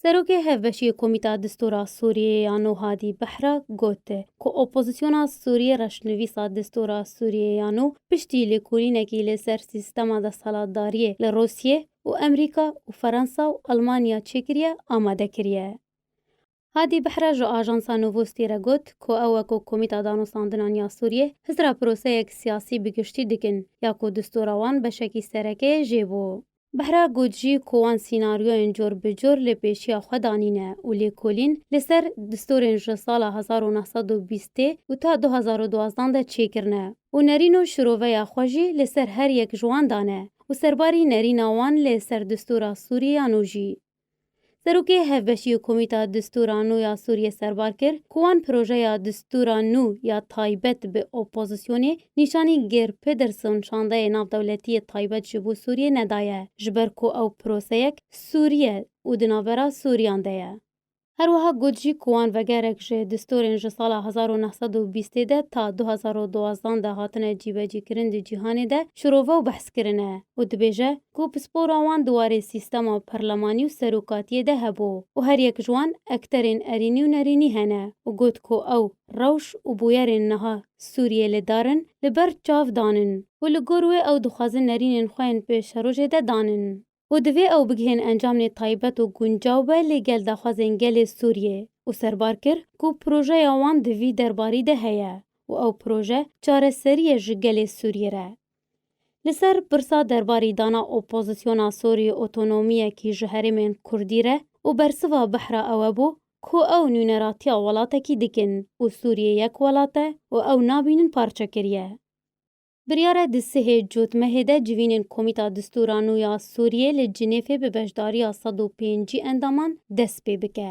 Serokê Hevbeşiyê Komîta Distora Sûriyeyê ya Nû Hadî Behra got ku opozisyona Sûriyê reşnivîsa Distora Sûriyeyê ya Nû piştî lêkolînekî li ser sîstema desthilatdariyê li Rûsiyê û Amerîka û Ferensa û Elmanya çêkiriye amade kiriye. Hadi Behra ji ajansa Novosti re got ku ew weko Komîta Danostandinan ya Sûriyê hizra proseyek siyasî bi giştî dikin ya ku distûra wan beşekî sereke yê jê bû. Behra got jî ku wan sînaryoyên cor bi cor li pêşiya xwe danîne û lêkolîn li ser distûrên ji sala hezar û neh sed û bîstê û ta du hezar û duwazdeh de çêkirine û nerîn û şiroveya xwe jî li ser her yek ji wan dane û serbarî nerîna wan lê ser distûra Sûriyê ya nû jî Serokê Hevbeşîyê Komîta Distûra Nû ya Sûriyê serbar kir ku wan projeya distûra nû ya taybet bi opozîsyonê nîşanî Geir Pederson şandeyê navdewletîyê taybet ji bo Sûriyê nedaye ji ber ku ew proseyek sûrî ye û di navbera sûrîyan de ye. Her wiha got jî ku wan vegerek ji distûrên ji sala hezar û neh sed û bîstê de ta du hezar û duwazdeh de hatine cîbecîkirin di cîhanê de şirove û behs kirine û dibêje, ku pispora wan di warê sîstema parlemanî û serokatiyê de hebû û her yek ji wan ekterên erînî û nerînî hene û got ku ew rewş û bûyerên niha Sûriyê li dar in li ber çav danin û li gor wê ew dixwazin nerînên xwe yên pêşerojê de danin û divê ew bigihên encamnê taybet û guncaw be lê gel daxwazên gelê Sûriyê û serbar kir ku projeya wan di vî derbarî de heye û ew proje çareserî ye ji gelê Sûriyê re Li ser pirsa derbarî dana opozisyona Sûrî otonomiyekî ji herêmên Kurdî re û bersiva behra ewe bû ku ew nûneratiya welatekî dikin û Sûriyê yek welat e û ew nabînin parçekiriye. Biryare di sihê cotmehê de civînên Komîta Distûra Nû ya Sûriyê li Cinêfê bi beşdariya sed û pêncî endaman dest pê bike.